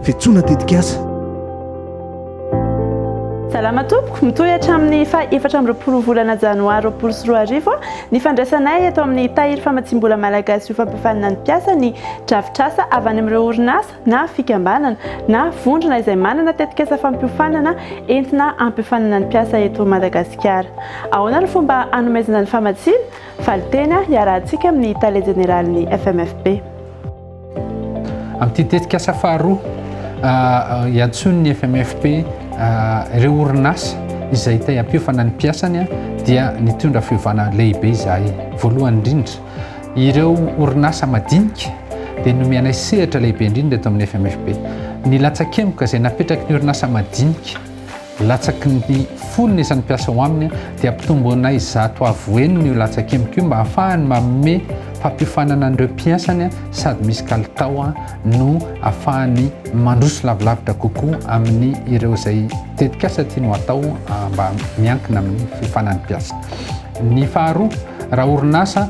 Fetsoana tetikasa. Salama tompoko, mitohy hatramin'ny faha efatra amby roapolo volana janoary roapolo sy roa arivo ny fandraisanay eto amin'ny Tahiry Famatsiam-bola Malagasy ho Fampiofanana ny Mpiasa ny drafitrasa avy any amin'ireo orinasa na fikambanana na vondrona izay manana tetikasa fampiofanana entina hampiofanana ny mpiasa eto Madagasikara. Ahoana no fomba hanomezana ny famatsiana? Valinteny iarahantsika amin'ny Tale Jeneralin'ny FMFB. Amin'ity tetikasa faharoa, iantsoin'ny FMFP ireo orinasa izay te hampiofana ny mpiasany dia nitondra fiovana lehibe izahay. Voalohany indrindra, ireo orinasa madinika dia nomenay sehatra lehibe indrindra eto amin'ny FMFP. Ny latsakemoka izay napetraky ny orinasa madinika Latsaky ny folo ny isan'ny mpiasa ao aminy dia ampitomboinay zato avo enina io latsaka emiko io mba hahafahany manome fampiofanana an'ireo mpiasany sady misy kalitao no hahafahany mandroso lavilavitra kokoa amin'ny ireo izay tetikasa tiany ho atao mba miankina amin'ny fiofanan'ny mpiasa. Ny faharoa, raha orinasa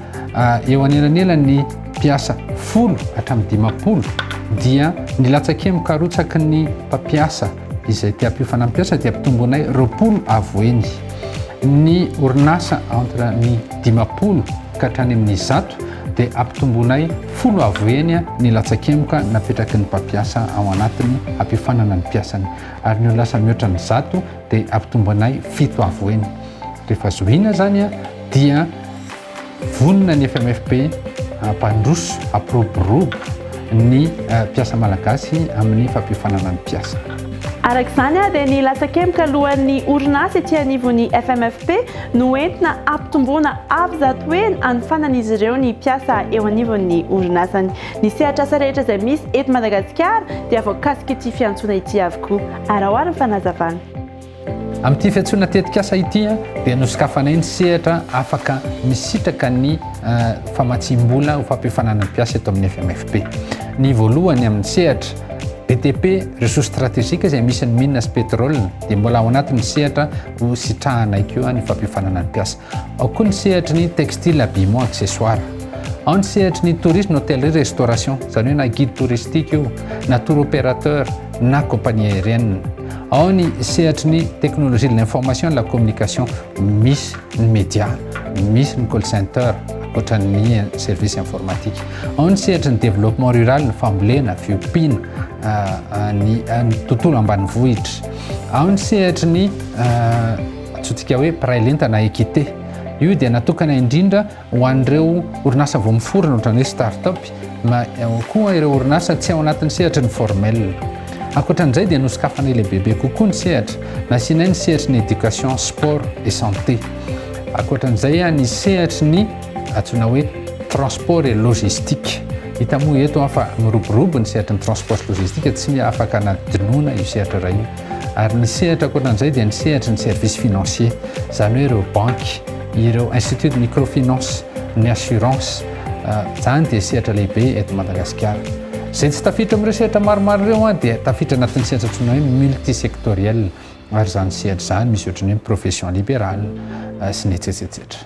eo anelanelan'ny mpiasa folo hatramin'ny dimampolo dia ny latsaka emiko arotsaky ny mpampiasa izay te-hampio fanampiasa dia ampitomboinay roapolo avo eny. Ny orinasa entre ny dimampolo ka hatrany amin'ny zato dia ampitomboinay folo avo eny ny latsa-kemoka napetraky ny mpampiasa ao anatiny hampiofanana ny mpiasany. Ary ny orinasa mihoatra ny zato dia ampitomboinay fito avo eny. Rehefa zohiana izany dia Vonona ny FMFP hampandroso, hampiroborobo ny mpiasa malagasy amin'ny fampiofanana ny mpiasa. Araka izany dia ny latsakemboka alohan'ny orinasa ety anivon'ny FMFP no entina hampitomboana avo zato heny hanofanan'izy ireo ny mpiasa eo anivon'ny orinasany. Ny sehatrasa rehetra izay misy eto Madagasikara dia voakasik'ity fiantsoana ity avokoa, araho ary ny fanazavana. Amin'ity fiantsoana tetikasa ity dia nosokafanay ny sehatra afaka misitraka ny famatsiam-bola ho fampiofanana ny mpiasa eto amin'ny FMFP. Ny voalohany amin'ny sehatra BTP, ressources stratégiques izay misy ny mines sy pétrole dia mbola ao anatin'ny sehatra ho sitrahanay koa ny fampiofanana ny mpiasa. Ao koa ny sehatry ny textile, habillement, accessoires. Ao ny sehatry ny tourisme, hôtellerie, restauration, izany hoe na guide touristique io, na tour opérateur, na compagnie aérienne. Ao ny sehatry ny technologie de l'information et de la communication misy ny média, misy ny call center ankoatra ny service informatique. Ao ny sehatry ny développement rural ny fambolena, fiompiana, ah, ah, ny ah, ny tontolo ambanivohitra. Ao ny sehatry ny antsointsika hoe mpiray lenta na équité. Io dia natokana indrindra Ho an'ireo orinasa vao miforona ohatrany hoe start-up na ihany koa ireo orinasa tsy ao anatin'ny sehatry ny formel. Ankoatran'izay dia nosokafanay lehibebe kokoa ny sehatra, nasianay ny sehatry ny éducation, sport et santé. Ankoatran'izay ah, ny sehatry ny antsoina hoe transport et logistique. Hita moa eto ah, fa miroborobo ny sehatry ny transport sy logistique, tsy afaka anadinoina io sehatra iray io. Ary ny sehatra ankoatran'izay dia ny sehatry ny service financier, izany hoe ireo banky. Ireo Institut de Microfinance ny Assurance, izany dia sehatra lehibe eto Madagasikara. Izay tsy tafiditra amin'ireo sehatra maromaro ireo dia tafiditra anatin'ny sehatra antsoina hoe multisectoriel, ary izany sehatra izany misy ohatran'ny hoe profession libérale sy ny etsy etsetsetra.